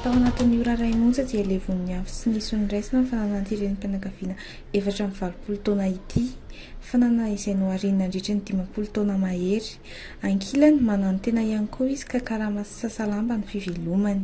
Tao anatin'ny ora iray monja dia levon'ny afo tsy nisy niraisana ny fananan'ity renim-pianakaviana efatra amby valopolo taona ity, fanana izay nohariany nandritra ny dimampolo taona mahery. Ankilany, mananotena ihany koa izy ka karama sy sasalamba no fivelomany.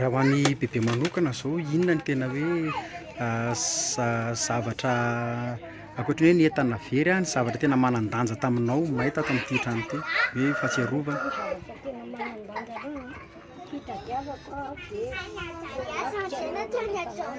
Raha ho an'i Bebe manokana izao, inona no tena hoe zavatra ankoatran'ny hoe ny entana very an, ny zavatra tena manan-danja taminao may tato amin'ity trano ity hoe fahatsiarovana? Ny zavatra tena manan-danja aloha an, fitadiavako an, dia ny marika ireo olona taloha.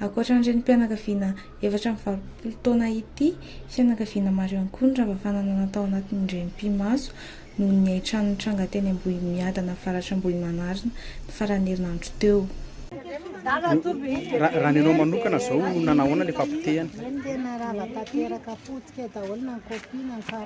Ankoatra ny renim-pianakaviana efatra amby valopolo taona ity, fianakaviana maro ihany koa no rava fananana tao anatin'ny renim-pimaso noho ny hain-trano nitranga teny Ambohimiadana avaratra Ambohimanarina ny faran'ny herinandro teo. Raha ny anao manokana izao, nanahoana ilay fahapotehana?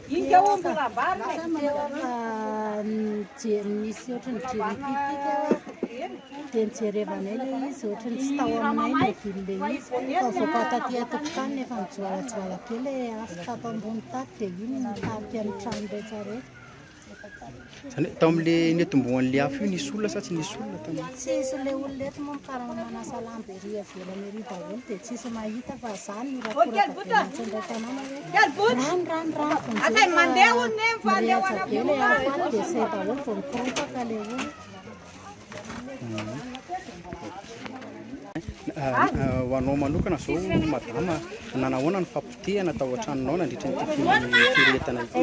Ika o mbola ambarina e. Lasa nijery nisy ohatry ny jiripipika dia nijerevanay ilay izy ohatry ny tsy tao aminay ny vily ilay izy fa avoaka taty an-tokotany nefa mijoalajoala be ilay afo tato ambony tato dia iny nitarika ny trano rehetra rehetra Zany hoe tao amle netombohanle afo io nisy olona sa tsy nisy olona tany? Tsisy, le olona eto moa mikarama manasa lamba ery avelany ery daholo de tsisy mahita fa zany no rakoraka be mintsy indray tanàna hoe rano rano rano vao nizay fa mirehatra be le afo any de zay daholo vao mikorontaka le olona. Ho anao manokana zao madama, nanahoana ny fampotehana tao an-tranonao nandritra ity firehetana ity?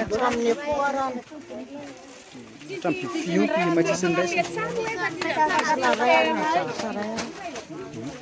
Hatramin'ny biby fiompy may tsisy niraisana.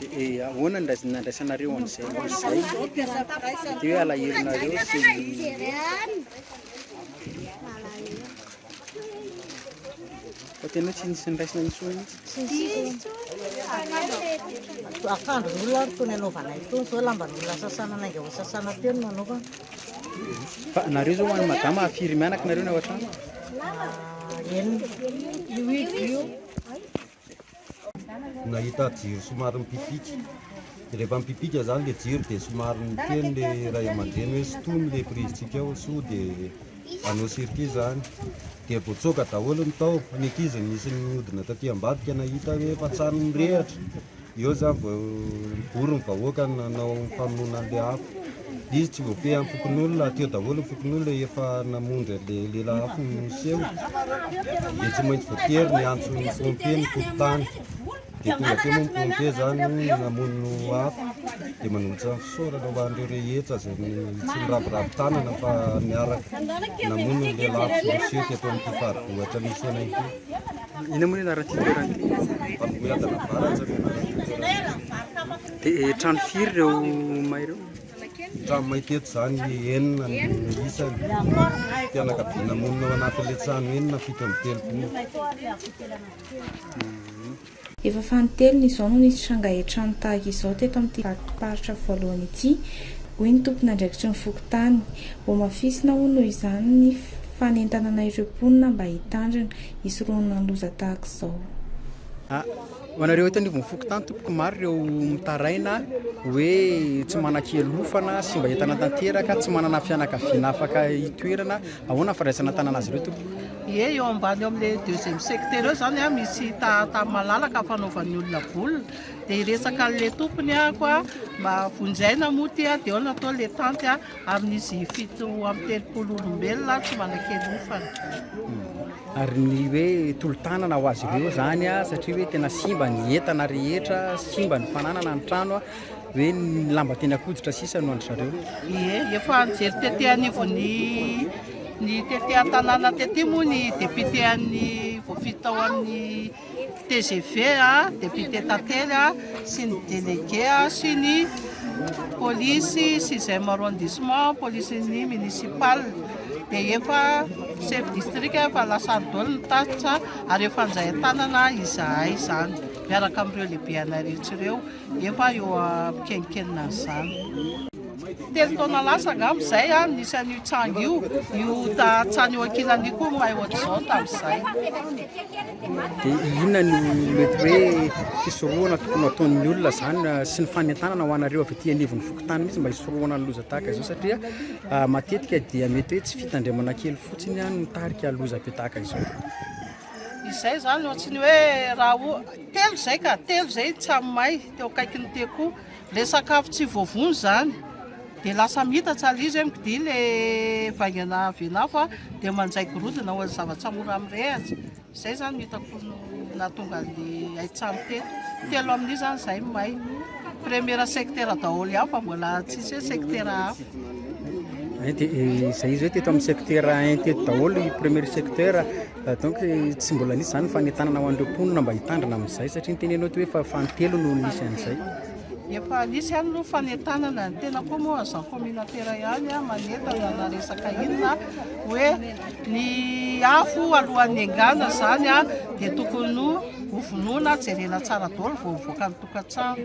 Dia ahoana ny raisiny nandraisanareo an'izay ho izay? Dia hoe alahelonareo sy Fa tena hoe tsy nisy niraisina intsony mihitsy. Akanjon'olona ary itony anaovanay itony, izao lamban'olona sasana nainga ho sasana teo no nanaovana. Fa nareo izao ho an'i madama firy mianaka nareo ny ao an-trano? Ah, enina. Io izy io. Nahita jiro somary mipipika, dia rehefa mipipika izany ilay jiro dia somary niteny ilay ray aman-dreny hoe sintomy ilay prizintsika ao sao dia hanao circuit izany, dia voatsoaka daholo ny tao, ny ankizy nisy nihodina taty ambadika nahita hoe efa an-trano mirehatra. Eo zany vao nivory ny vahoaka nanao famonoana an'ilay afo. Izy tsy voafehin'ny fokonolona, teo daholo ny fokonolona efa namonjy an'ilay lela afo niseho, dia tsy maintsy voatery niantso ny pompier ny fokontany. Dia tonga teo moa ny pompier zany namono afo, dia manolotra ny fisaorana ho an'ireo rehetra izay tsy niraviravy tanana fa niaraka namono ny lela afo niseho teto amin'ity faribohitra misy anay ity. Inona moa ny anaran'ity toerana ity? Dia eh, trano firy ireo may ireo? Trano may teto izany enina ny isany. Fianakaviana monina ao anatin'ilay trano enina fito amby telopolo. Efa fanintelony izao no nisy tranga etrano tahaka izao teto amin'ity vakim-paritra voalohany ity, hoy ny tompon'andraikitry ny fokontany. Voamafisina hono noho izany ny Fanentanana ireo mponina mba hitandrina, hisorohana ny loza tahaka izao. A, Ho anareo eto anivon'ny fokontany tompoko, maro ireo mitaraina hoe tsy manan-kialofana, simba entana tanteraka, tsy manana fianakaviana afaka hitoerana, ahoana ny fandraisana an-tanana azy ireo tompoko? Ie, eo ambany eo amin'ilay deuxième secteur eo izany a, misy tahatany malalaka fanaovan'ny olona baolina, dia hiresaka an'ilay tompony aho koa mba vonjy aina moa ity a, dia ao no atao ilay tanty a. Amin'izy fito amby telopolo olombelona aho tsy manan-kialofana. Ary ny hoe tolo-tanana ho azy ireo izany satria hoe tena simba ny entana rehetra, simba ny fananana, ny trano, hoe ny lamba teny an-koditra sisa no an-dry zareo. Ie, efa nijery tety anivon'ny ny tety an-tanàna tety moa ny député an'ny voafidy tao amin'ny tgv, depiote tantely sy ny delege sy ny polisy sixième arrondissement, polisin'ny municipal, dia efa chef district, efa la Sardoll ny tatitra ary efa anjayan-tanana izahay izany miaraka amin'ireo lehibe anay rehetra ireo efa eo am-pikeninkenina an'izany. Telo taona lasa angamba izay aho nisy an'io tsangy io, io tany eo ankilany io koa may ohatr'izao tamin'izay. Dia inona no mety hoe fisorohana tokony ataon'ny olona izany ah, sy ny fanentanana ho anareo avy aty anivon'ny fokontany mihitsy mba hisorohana ny loza tahaka izao satria ah, matetika dia mety hoe tsy fitandremana kely fotsiny ah, no mitarika loza be tahaka izao. Izay izany ohatry ny hoe raha o- telo izay ka, telo izay tsamay teo akaikin'ny tekoa. Ilay sakafo tsy voavono izany dia lasa mihitan-tsary izy hoe mikidia ilay vaingana avy an'afo dia manjay gorodona ho an'ny zavatra mora mirehitra. Izay izany no hitako no nahatonga an'ilay hain-trano teto. Telo amin'io izany izahay no may. Première secteur daholo ihany fa mbola tsisy hoe secteur hafa. Eh, dia eh, izay izy hoe teto amin'ny secteur un teto daholo i premier secteur Donc tsy mbola nisy izany fanentanana ho an'ireo mponina mba hitandrina amin'izay satria ny teneninao ity hoe fa fahatelo no nisy an'izay. Efa nisy ihany aloha fanentanana, ny tena koa moa agent communautaire ihany ah, manentana na resaka inona hoe ny afo alohan'ny engana izany ah, dia tokony ho vonoina, jerena tsara daholo vao mivoaka ny tokantrano.